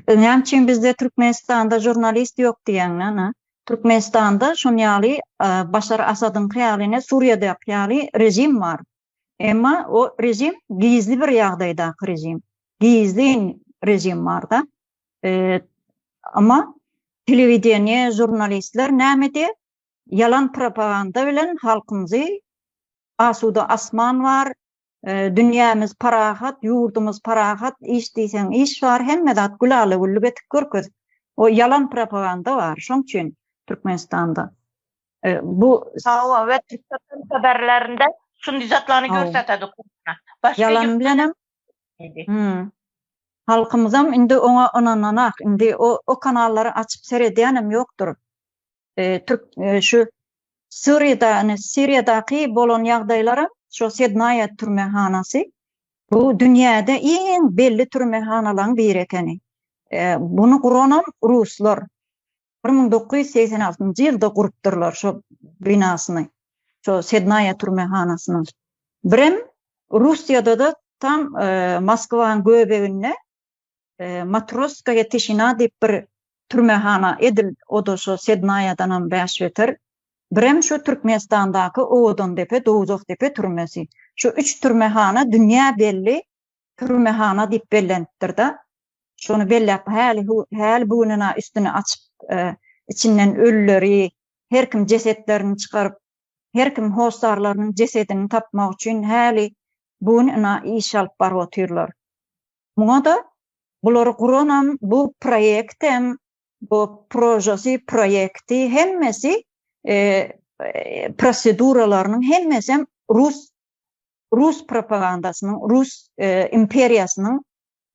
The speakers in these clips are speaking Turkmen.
Öňem çyn bizde Türkmenistanda žurnalist ýok diýäňmi ana? Türkmenistanda şon ýaly Başar Asadyňky ýaly ne Suriýadaky ýaly režim bar. Emma o režim gizli bir ýagdaýdaky režim. Gizli režim barda. Emma telewideniýe, žurnalistler näme diýip ýalan propaganda bilen halkymyzy asuda asman bar, Dünýämiz parahat, ýurdumyz parahat, iş diýseň iş bar, hemme zat gülala-güllük edip görkez. O ýalan propaganda bar, şoň üçin Türkmenistanda. Bu. Hawa, we Türkmen habarlarynda şundy zatlany görsatedik. Ýalan bilenem. Halkymyzam indi oňa ynananak, indi o kanallary açyp seredýänem ýokdur. Türk şu Suriýada, ine Siriýadaky bolan ýagdaýlara şu Sednaýa türmehanasy bu dünýäde iň belli türmehanalaryň biri ekeni. Bunu guranam ruslar. 1986-njy ýylda gurupdyrlar şu binasyny. Şu Sednaýa türmehanasyny. Birem Russiýada-da tam Moskwanyň göbeginde Matroskaýa tişina diýip bir türmehana edil oda şo sednaýadanam bäş beter. Birem şo Türkmenistandaky Owadandepe, Dowzahdepe türmesi. Şo üç türmehana dünýä belli türmehana diýip bellenipdir-de. Şony belläp häli häli bu gününa üstüni açyp içinden ölüleri her kim jesetlerini çykaryp her kim hossarlarynyň jesedini tapmak üçin häli bu gün ina iş alyp baryp otyrlar. Muňa-da bulary guranam, bu proýektem, bu prožasy, proýekti hemmesi proseduralarynyň hemmesem rus rus propagandasynyň, rus imperiýasynyň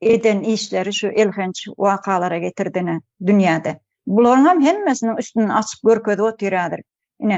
eden işleri şu elhenç wakalara getirdi ine dünýäde. Bularyňam hemmesiniň üstüni açyp görkezip otyrýardyr. Ine,